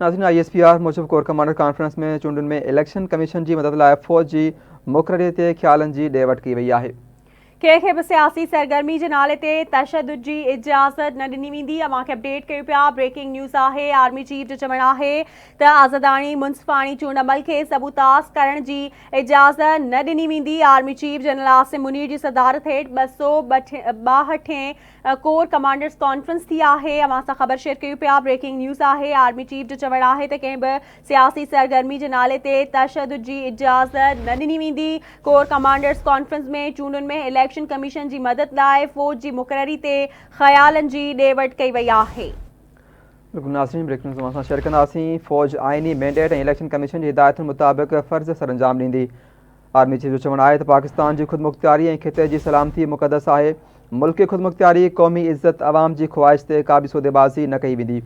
ناظرين I S P R موجب core commander conference ۾ چونڊن ۾ اليڪشن ڪميشن جي مدد لاء فوج جي مقرري تي خيالن جي ڏي وٺ ڪئي وئي آهي. ڪنهن کي به سياسي سرگرمي جي نالي تي تشدد جي اجازت نه ڏني ويندي اوهان کي اپڊيٽ ڪيون پيا بريڪنگ نيوز آهي آرمي چيف جو چوڻ آهي ته آزاداڻي منصفاڻي چونڊ عمل کي سبوتاس ڪرڻ جي اجازت نه ڏني ويندي army chief general Asim Munir جي صدارت هيٺ ٻه سو ٻاهٺين ڪور ڪمانڊرز ڪانفرنس ٿي آهي اوهان سان خبر شيئر ڪيون پيا بريڪنگ نيوز آهي آرمي چيف جو چوڻ آهي ته ڪنهن به سياسي سرگرمي جي نالي تي تشدد جي اجازت نه ڏني ويندي ڪور ڪمانڊرز ڪانفرنس ۾ چونڊن ۾ اليڪشن ڪميشن جي مدد لاء فوج جي مقرري تي خيالن جي ڏي وٺ ڪئي وئي آهي. بلڪل ناظرين بريڪنگ نيوز اوهان سان شيئر ڪنداسين فوج آئيني مينڊيٽ ۽ اليڪشن ڪميشن جي هدايتن مطابق فرض سرانجام ڏيندي. آرمي چيف جو چوڻ آهي ته پاڪستان جي خودمختياري ۽ خطي جي سلامتي مقدس آهي، ملڪي خودمختياري، قومي عزت، عوام جي خواهش تي ڪابه سوديبازي نه ڪئي ويندي،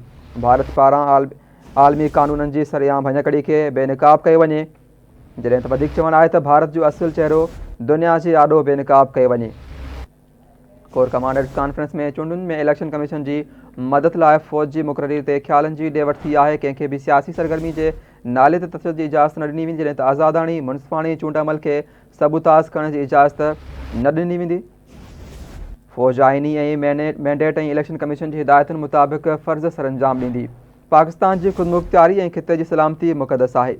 ڀارت پاران عالمي قانونن جي سرعام ڀڃڪڙي کي بي نقاب ڪيو وڃي، جڏهن ته وڌيڪ چوڻ آهي ته ڀارت جو اصل چهرو دنيا جي آڏو بي نقاب ڪيو وڃي. ڪور ڪمانڊرز ڪانفرنس ۾ چونڊن ۾ اليڪشن ڪميشن جي مدد لاء فوج جي مقرري تي خيالن جي ڏي وٺ ٿي آهي، ڪنهن کي به سياسي سرگرمي جي نالي تي تشدد جي اجازت نه ڏني ويندي جڏهن ته آزاداڻي منصفاڻي چونڊ عمل کي سبوتاز ڪرڻ جي اجازت نه ڏني ويندي. فوج آئيني ۽ مينڊيٽ ۽ اليڪشن ڪميشن جي هدايتن مطابق فرض سرانجام ڏيندي. پاڪستان جي خودمختياري ۽ خطي جي سلامتي مقدس آهي.